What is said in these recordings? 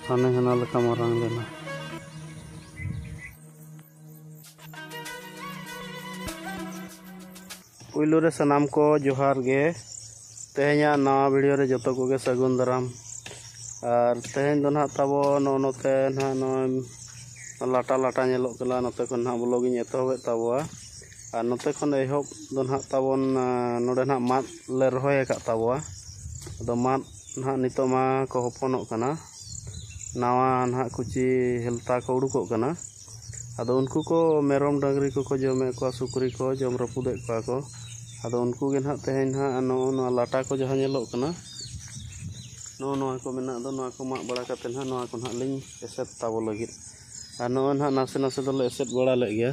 ᱦᱟᱱᱮ ᱦᱟᱱᱟ ᱞᱮᱠᱟ ᱢᱟᱨᱟᱝ ᱞᱮᱱᱟ ᱯᱩᱭᱞᱩ ᱨᱮ ᱥᱟᱱᱟᱢ ᱠᱚ ᱡᱚᱦᱟᱨ ᱜᱮ ᱛᱮᱦᱮᱧᱟᱜ ᱱᱟᱣᱟ ᱵᱷᱤᱰᱤᱭᱳ ᱨᱮ ᱡᱚᱛᱚ ᱠᱚᱜᱮ ᱥᱟᱹᱜᱩᱱ ᱫᱟᱨᱟᱢ ᱟᱨ ᱛᱮᱦᱮᱧ ᱫᱚ ᱱᱟᱦᱟᱜ ᱛᱟᱵᱚ ᱱᱚᱜᱼᱚ ᱱᱚᱛᱮ ᱱᱟᱦᱟᱜ ᱱᱚᱜᱼᱚᱭ ᱞᱟᱴᱟ ᱞᱟᱴᱟ ᱧᱮᱞᱚᱜ ᱠᱟᱱᱟ ᱱᱚᱛᱮ ᱠᱷᱚᱱ ᱱᱟᱦᱟᱜ ᱵᱞᱚᱜ ᱤᱧ ᱮᱛᱚᱦᱚᱵᱮᱫ ᱛᱟᱵᱚᱣᱟ ᱟᱨ ᱱᱚᱛᱮ ᱠᱷᱚᱱ ᱮᱦᱚᱵ ᱫᱚ ᱱᱟᱦᱟᱜ ᱛᱟᱵᱚᱱ ᱱᱚᱰᱮ ᱱᱟᱦᱟᱜ ᱢᱟᱫ ᱞᱮ ᱨᱚᱦᱚᱭ ᱟᱠᱟᱫ ᱛᱟᱵᱚᱣᱟ ᱟᱫᱚ ᱢᱟᱫ ᱱᱟᱦᱟᱜ ᱱᱤᱛᱚᱜ ᱢᱟ ᱠᱚ ᱦᱚᱯᱚᱱᱚᱜ ᱠᱟᱱᱟ ᱱᱟᱣᱟ ᱱᱟᱦᱟᱜ ᱠᱩᱪᱤ ᱦᱮᱞᱛᱟ ᱠᱚ ᱩᱰᱩᱠᱚᱜ ᱠᱟᱱᱟ ᱟᱫᱚ ᱩᱱᱠᱩ ᱠᱚ ᱢᱮᱨᱚᱢ ᱰᱟᱹᱝᱨᱤ ᱠᱚᱠᱚ ᱡᱚᱢᱮᱫ ᱠᱚᱣᱟ ᱥᱩᱠᱨᱤ ᱠᱚ ᱡᱚᱢ ᱨᱟᱹᱯᱩᱫᱮᱫ ᱠᱚᱣᱟ ᱠᱚ ᱟᱫᱚ ᱩᱱᱠᱩ ᱜᱮ ᱱᱟᱦᱟᱜ ᱛᱮᱦᱮᱧ ᱱᱟᱦᱟᱜ ᱱᱚᱜᱼᱚ ᱱᱚᱣᱟ ᱞᱟᱴᱟ ᱠᱚ ᱡᱟᱦᱟᱸ ᱧᱮᱞᱚᱜ ᱠᱟᱱᱟ ᱱᱚᱜᱼᱚ ᱱᱚᱣᱟ ᱠᱚ ᱢᱮᱱᱟᱜ ᱫᱚ ᱱᱚᱣᱟ ᱠᱚ ᱢᱟᱜ ᱵᱟᱲᱟ ᱠᱟᱛᱮ ᱱᱟᱦᱟᱜ ᱱᱚᱣᱟ ᱠᱚ ᱱᱟᱦᱟᱜ ᱞᱤᱧ ᱮᱥᱮᱫ ᱛᱟᱵᱚ ᱞᱟᱹᱜᱤᱫ ᱟᱨ ᱱᱚᱜᱼᱚᱭ ᱱᱟᱦᱟᱜ ᱱᱟᱥᱮ ᱱᱟᱥᱮ ᱫᱚᱞᱮ ᱮᱥᱮᱫ ᱵᱟᱲᱟ ᱞᱮᱫ ᱜᱮᱭᱟ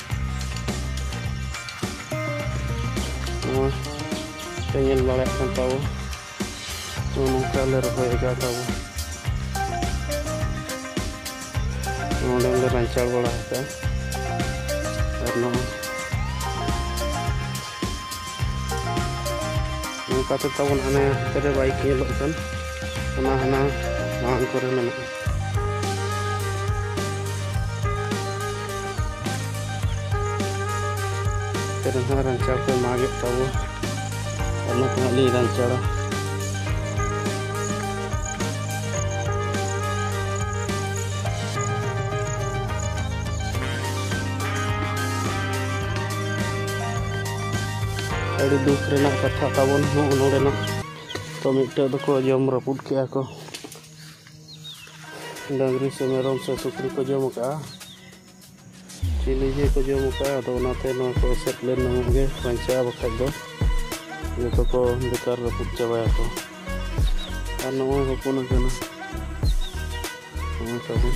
ᱱᱚᱜᱼᱚᱭ ᱯᱮ ᱧᱮᱞ ᱵᱟᱲᱟᱭᱮᱫ ᱠᱟᱱ ᱛᱟᱵᱚ ᱱᱚᱜᱼᱚ ᱱᱚᱝᱠᱟ ᱞᱮ ᱨᱚᱦᱚᱭ ᱟᱠᱟᱫ ᱛᱟᱵᱚ ᱱᱚᱰᱮ ᱞᱮ ᱨᱟᱧᱪᱟᱲ ᱵᱟᱲᱟ ᱟᱠᱟᱫᱼᱟ ᱟᱨ ᱱᱚᱜᱼᱚᱭ ᱱᱚᱝᱠᱟ ᱛᱮ ᱛᱟᱵᱚᱱ ᱦᱟᱱᱮ ᱦᱟᱱᱛᱮ ᱨᱮ ᱵᱟᱭᱤᱠ ᱧᱮᱞᱚᱜ ᱠᱟᱱ ᱚᱱᱟ ᱦᱟᱱᱟ ᱢᱟᱲᱟᱝ ᱠᱚᱨᱮ ᱢᱮᱱᱟᱜᱼᱟ ᱛᱮᱨᱮ ᱦᱚᱸ ᱨᱟᱧᱪᱟᱲ ᱠᱚ ᱢᱟᱜᱮᱫ ᱛᱟᱵᱚ ᱚᱱᱟ ᱛᱮ ᱦᱟᱸᱜ ᱞᱤᱧ ᱨᱟᱧᱪᱟᱲᱟ ᱟᱹᱰᱤ ᱫᱩᱠ ᱨᱮᱱᱟᱜ ᱠᱟᱛᱷᱟ ᱛᱟᱵᱚᱱ ᱦᱚᱸ ᱱᱚᱰᱮᱱᱟᱜ ᱛᱚ ᱢᱤᱫᱴᱮᱡ ᱫᱚᱠᱚ ᱡᱚᱢ ᱨᱟᱹᱯᱩᱫ ᱠᱮᱜᱼᱟ ᱠᱚ ᱰᱟᱹᱝᱨᱤ ᱥᱮ ᱢᱮᱨᱚᱢ ᱥᱮ ᱥᱩᱠᱨᱤ ᱠᱚ ᱡᱚᱢ ᱠᱟᱜᱼᱟ ᱪᱤᱞᱤ ᱡᱮ ᱠᱚ ᱡᱚᱢ ᱠᱟᱜᱼᱟ ᱟᱫᱚ ᱚᱱᱟᱛᱮ ᱱᱚᱣᱟ ᱠᱚ ᱮᱥᱮᱫ ᱞᱮᱱ ᱱᱟᱢᱚᱜ ᱜᱮ ᱵᱟᱧᱪᱟᱜᱼᱟ ᱵᱟᱠᱷᱟᱡ ᱫᱚ ᱡᱚᱛᱚ ᱠᱚ ᱵᱮᱠᱟᱨ ᱨᱟᱹᱯᱩᱫ ᱪᱟᱵᱟᱭᱟᱠᱚ ᱟᱨ ᱱᱚᱜᱼᱚᱭ ᱦᱚᱯᱚᱱ ᱟᱠᱟᱱᱟ ᱱᱚᱜᱼᱚᱭ ᱛᱟᱵᱚᱱ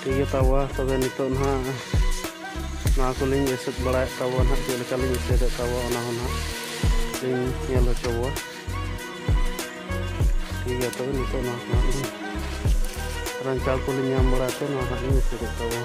ᱴᱷᱤᱠ ᱜᱮ ᱛᱟᱵᱚᱣᱟ ᱛᱚᱵᱮ ᱱᱤᱛᱚᱜ ᱱᱟᱦᱟᱜ ᱱᱚᱣᱟ ᱠᱚᱞᱤᱧ ᱮᱥᱮᱫ ᱵᱟᱲᱟᱭᱮᱫ ᱛᱟᱵᱚᱣᱟ ᱱᱟᱦᱟᱜ ᱪᱮᱫ ᱞᱮᱠᱟᱞᱤᱧ ᱮᱥᱮᱫᱮᱫ ᱛᱟᱵᱚᱣᱟ ᱚᱱᱟ ᱦᱚᱸ ᱱᱟᱦᱟᱜ ᱞᱤᱧ ᱧᱮᱞ ᱦᱚᱪᱚ ᱵᱚᱣᱟ ᱴᱷᱤᱠ ᱜᱮᱭᱟ ᱛᱚᱵᱮ ᱱᱤᱛᱚᱜ ᱱᱚᱣᱟ ᱠᱚ ᱱᱟᱦᱟᱜ ᱞᱤᱧ ᱨᱟᱱᱪᱟᱲ ᱠᱚᱞᱤᱧ ᱧᱟᱢ ᱵᱟᱲᱟᱭ ᱛᱮ ᱱᱚᱣᱟ ᱦᱟᱸᱜ ᱞᱤᱧ ᱮᱥᱮᱫᱮᱫ ᱛᱟᱵᱚᱣᱟ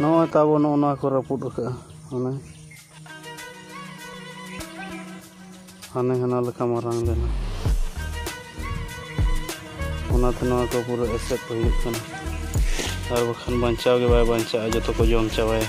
ᱱᱚᱜᱼᱚᱭ ᱛᱟᱵᱚ ᱱᱚᱜᱼᱚ ᱱᱚᱣᱟ ᱠᱚ ᱨᱟᱹᱯᱩᱫ ᱟᱠᱟᱫᱼᱟ ᱦᱟᱱᱮ ᱦᱟᱱᱮ ᱦᱟᱱᱟ ᱞᱮᱠᱟ ᱢᱟᱨᱟᱝ ᱞᱮᱱᱟ ᱚᱱᱟᱛᱮ ᱱᱚᱣᱟ ᱠᱚ ᱯᱩᱨᱟᱹ ᱮᱥᱮᱫ ᱦᱩᱭᱩᱜ ᱠᱟᱱᱟ ᱟᱨ ᱵᱟᱠᱷᱟᱱ ᱵᱟᱧᱪᱟᱣ ᱜᱮ ᱵᱟᱭ ᱵᱟᱧᱪᱟᱜᱼᱟ ᱡᱚᱛᱚ ᱠᱚ ᱡᱚᱢ ᱪᱟᱵᱟᱭᱟ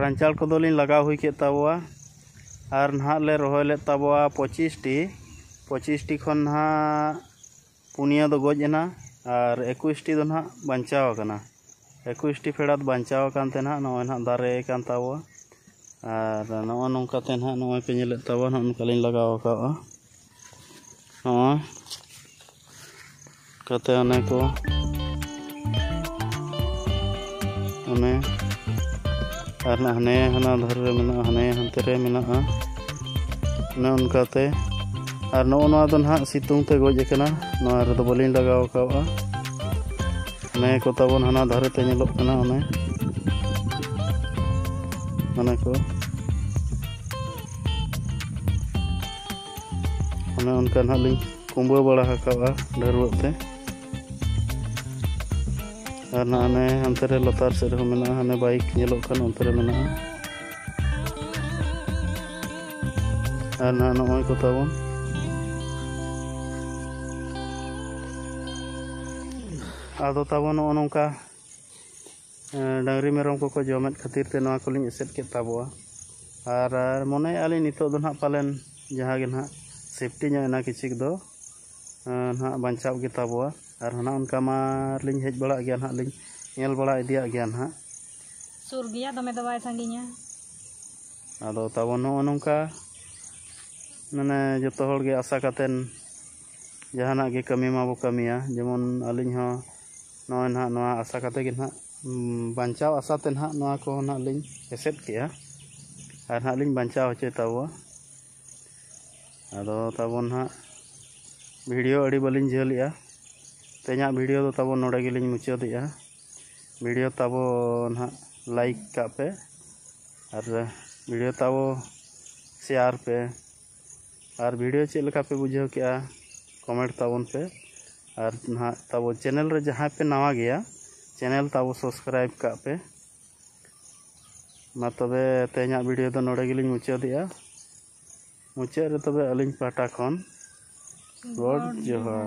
ᱨᱟᱱᱪᱟᱲ ᱠᱚᱫᱚᱞᱤᱧ ᱞᱟᱜᱟᱣ ᱦᱩᱭ ᱠᱮᱫ ᱛᱟᱵᱚᱣᱟ ᱟᱨ ᱱᱟᱦᱟᱜ ᱞᱮ ᱨᱚᱦᱚᱭ ᱞᱮᱫ ᱛᱟᱵᱚᱣᱟ ᱯᱚᱸᱪᱤᱥᱴᱤ ᱯᱚᱸᱪᱤᱥᱴᱤ ᱠᱷᱚᱱ ᱱᱟᱦᱟᱜ ᱯᱩᱱᱭᱟᱹ ᱫᱚ ᱜᱚᱡ ᱮᱱᱟ ᱟᱨ ᱮᱠᱩᱥᱴᱤ ᱫᱚ ᱱᱟᱦᱟᱜ ᱵᱟᱧᱪᱟᱣ ᱟᱠᱟᱱᱟ ᱮᱠᱩᱥᱴᱤ ᱯᱷᱮᱰᱟᱛ ᱵᱟᱧᱪᱟᱣ ᱟᱠᱟᱱ ᱛᱮ ᱱᱟᱦᱟᱜ ᱱᱚᱜᱼᱚᱭ ᱱᱟᱦᱟᱜ ᱫᱟᱨᱮ ᱟᱠᱟᱱ ᱛᱟᱵᱚᱣᱟ ᱟᱨ ᱱᱚᱜᱼᱚ ᱱᱚᱝᱠᱟ ᱛᱮ ᱱᱟᱦᱟᱜ ᱱᱚᱜᱼᱚᱭ ᱯᱮ ᱧᱮᱞᱮᱫ ᱛᱟᱵᱚᱣᱟ ᱱᱚᱜᱼᱚ ᱱᱚᱝᱠᱟ ᱞᱤᱧ ᱞᱟᱜᱟᱣ ᱟᱠᱟᱫᱼᱟ ᱱᱚᱣᱟ ᱠᱟᱛᱮ ᱚᱱᱮ ᱠᱚ ᱚᱱᱮ ᱟᱨ ᱦᱟᱱᱮ ᱦᱟᱱᱟ ᱫᱷᱟᱨᱮ ᱨᱮ ᱢᱮᱱᱟᱜᱼᱟ ᱦᱟᱱᱮ ᱦᱟᱱᱛᱮ ᱨᱮ ᱢᱮᱱᱟᱜᱼᱟ ᱚᱱᱮ ᱚᱱᱠᱟᱛᱮ ᱟᱨ ᱱᱚᱜᱼᱚ ᱱᱚᱣᱟ ᱫᱚ ᱱᱟᱦᱟᱜ ᱥᱤᱛᱩᱝ ᱛᱮ ᱜᱚᱡ ᱟᱠᱟᱱᱟ ᱱᱚᱣᱟ ᱨᱮᱫᱚ ᱵᱟᱹᱞᱤᱧ ᱞᱟᱜᱟᱣ ᱠᱟᱜᱼᱟ ᱚᱱᱮ ᱠᱚ ᱛᱟᱵᱚᱱ ᱦᱟᱱᱟ ᱫᱷᱟᱨᱮ ᱛᱮ ᱧᱮᱞᱚᱜ ᱠᱟᱱᱟ ᱚᱱᱮ ᱚᱱᱮ ᱠᱚ ᱚᱱᱮ ᱚᱱᱠᱟ ᱱᱟᱦᱟᱜ ᱞᱤᱧ ᱠᱩᱢᱵᱟᱹ ᱵᱟᱲᱟ ᱟᱠᱟᱫᱼᱟ ᱰᱷᱟᱹᱨᱣᱟᱹᱜ ᱛᱮ ᱟᱨ ᱱᱟᱦᱟᱜ ᱦᱟᱱᱮ ᱦᱟᱱᱛᱮ ᱨᱮ ᱞᱟᱛᱟᱨ ᱥᱮᱫ ᱨᱮᱦᱚᱸ ᱢᱮᱱᱟᱜᱼᱟ ᱦᱟᱱᱮ ᱵᱟᱭᱤᱠ ᱧᱮᱞᱚᱜ ᱠᱟᱱ ᱚᱱᱛᱮ ᱨᱮ ᱢᱮᱱᱟᱜᱼᱟ ᱟᱨ ᱱᱟᱦᱟᱜ ᱱᱚᱜᱼᱚᱭ ᱠᱚ ᱛᱟᱵᱚᱱ ᱟᱫᱚ ᱛᱟᱵᱚᱱ ᱱᱚᱜᱼᱚ ᱱᱚᱝᱠᱟ ᱰᱟᱹᱝᱨᱤ ᱢᱮᱨᱚᱢ ᱠᱚᱠᱚ ᱡᱚᱢᱮᱫ ᱠᱷᱟᱹᱛᱤᱨ ᱛᱮ ᱱᱚᱣᱟ ᱠᱚᱞᱤᱧ ᱮᱥᱮᱫ ᱠᱮᱫ ᱛᱟᱵᱚᱣᱟ ᱟᱨ ᱢᱚᱱᱮᱭᱮᱫᱼᱟ ᱞᱤᱧ ᱱᱤᱛᱚᱜ ᱫᱚ ᱱᱟᱦᱟᱜ ᱯᱟᱞᱮᱱ ᱡᱟᱦᱟᱸ ᱜᱮ ᱱᱟᱦᱟᱜ ᱥᱮᱯᱴᱤ ᱧᱚᱜ ᱮᱱᱟ ᱠᱤᱪᱷᱩᱠ ᱫᱚ ᱱᱟᱦᱟᱜ ᱵᱟᱧᱪᱟᱣ ᱜᱮ ᱛᱟᱵᱚᱣᱟ ᱟᱨ ᱱᱟᱦᱟᱜ ᱚᱱᱠᱟ ᱢᱟ ᱞᱤᱧ ᱦᱮᱡ ᱵᱟᱲᱟᱜ ᱜᱮᱭᱟ ᱱᱟᱦᱟᱜ ᱞᱤᱧ ᱧᱮᱞ ᱵᱟᱲᱟ ᱤᱫᱤᱭᱟᱜ ᱜᱮᱭᱟ ᱱᱟᱦᱟᱜ ᱥᱩᱨ ᱜᱮᱭᱟ ᱫᱚᱢᱮ ᱫᱚ ᱵᱟᱭ ᱥᱟᱺᱜᱤᱧᱟ ᱟᱫᱚ ᱛᱟᱵᱚ ᱱᱚᱜᱼᱚ ᱱᱚᱝᱠᱟ ᱢᱟᱱᱮ ᱡᱚᱛᱚ ᱦᱚᱲ ᱜᱮ ᱟᱥᱟ ᱠᱟᱛᱮᱱ ᱡᱟᱦᱟᱱᱟᱜ ᱜᱮ ᱠᱟᱹᱢᱤ ᱢᱟᱵᱚ ᱠᱟᱹᱢᱤᱭᱟ ᱡᱮᱢᱚᱱ ᱟᱹᱞᱤᱧ ᱦᱚᱸ ᱱᱚᱜᱼᱚᱭ ᱱᱟᱦᱟᱜ ᱱᱚᱣᱟ ᱟᱥᱟ ᱠᱟᱛᱮ ᱜᱮ ᱱᱟᱦᱟᱜ ᱵᱟᱧᱪᱟᱣ ᱟᱥᱟ ᱛᱮ ᱱᱟᱦᱟᱜ ᱱᱚᱣᱟ ᱠᱚ ᱱᱟᱦᱟᱜ ᱞᱤᱧ ᱮᱥᱮᱫ ᱠᱮᱜᱼᱟ ᱟᱨ ᱱᱟᱦᱟᱜ ᱞᱤᱧ ᱵᱟᱧᱪᱟᱣ ᱦᱚᱪᱚᱭ ᱛᱟᱵᱚᱣᱟ ᱟᱫᱚ ᱛᱟᱵᱚ ᱱᱟᱦᱟᱜ ᱵᱷᱤᱰᱤᱭᱳ ᱟᱹᱰᱤ ᱵᱟᱹᱞᱤᱧ ᱡᱷᱟᱹᱞᱮᱜᱼᱟ ᱛᱮᱦᱮᱧᱟᱜ ᱵᱷᱤᱰᱤᱭᱳ ᱫᱚ ᱛᱟᱵᱚ ᱱᱚᱰᱮ ᱜᱮᱞᱤᱧ ᱢᱩᱪᱟᱹᱫᱮᱜᱼᱟ ᱵᱷᱤᱰᱤᱭᱳ ᱛᱟᱵᱚ ᱱᱟᱦᱟᱜ ᱞᱟᱭᱤᱠ ᱠᱟᱜ ᱯᱮ ᱟᱨ ᱵᱷᱤᱰᱤᱭᱳ ᱛᱟᱵᱚ ᱥᱮᱭᱟᱨ ᱯᱮ ᱟᱨ ᱵᱷᱤᱰᱤᱭᱳ ᱪᱮᱫ ᱞᱮᱠᱟ ᱯᱮ ᱵᱩᱡᱷᱟᱹᱣ ᱠᱮᱜᱼᱟ ᱠᱚᱢᱮᱱᱴ ᱛᱟᱵᱚᱱ ᱯᱮ ᱟᱨ ᱱᱟᱦᱟᱜ ᱛᱟᱵᱚ ᱪᱮᱱᱮᱞ ᱨᱮ ᱡᱟᱦᱟᱸᱭ ᱯᱮ ᱱᱟᱣᱟ ᱜᱮᱭᱟ ᱪᱮᱱᱮᱞ ᱛᱟᱵᱚ ᱥᱟᱵᱥᱠᱨᱟᱭᱤᱵ ᱠᱟᱜ ᱯᱮ ᱢᱟ ᱛᱚᱵᱮ ᱛᱮᱦᱮᱧᱟᱜ ᱵᱷᱤᱰᱤᱭᱳ ᱫᱚ ᱱᱚᱰᱮ ᱜᱮᱞᱤᱧ ᱢᱩᱪᱟᱹᱫᱮᱜᱼᱟ ᱢᱩᱪᱟᱹᱫ ᱨᱮ ᱛᱚᱵᱮ ᱟᱹᱞᱤᱧ ᱯᱟᱦᱴᱟ ᱠᱷᱚᱱ ᱜᱚᱰ ᱡᱚᱦᱟᱨ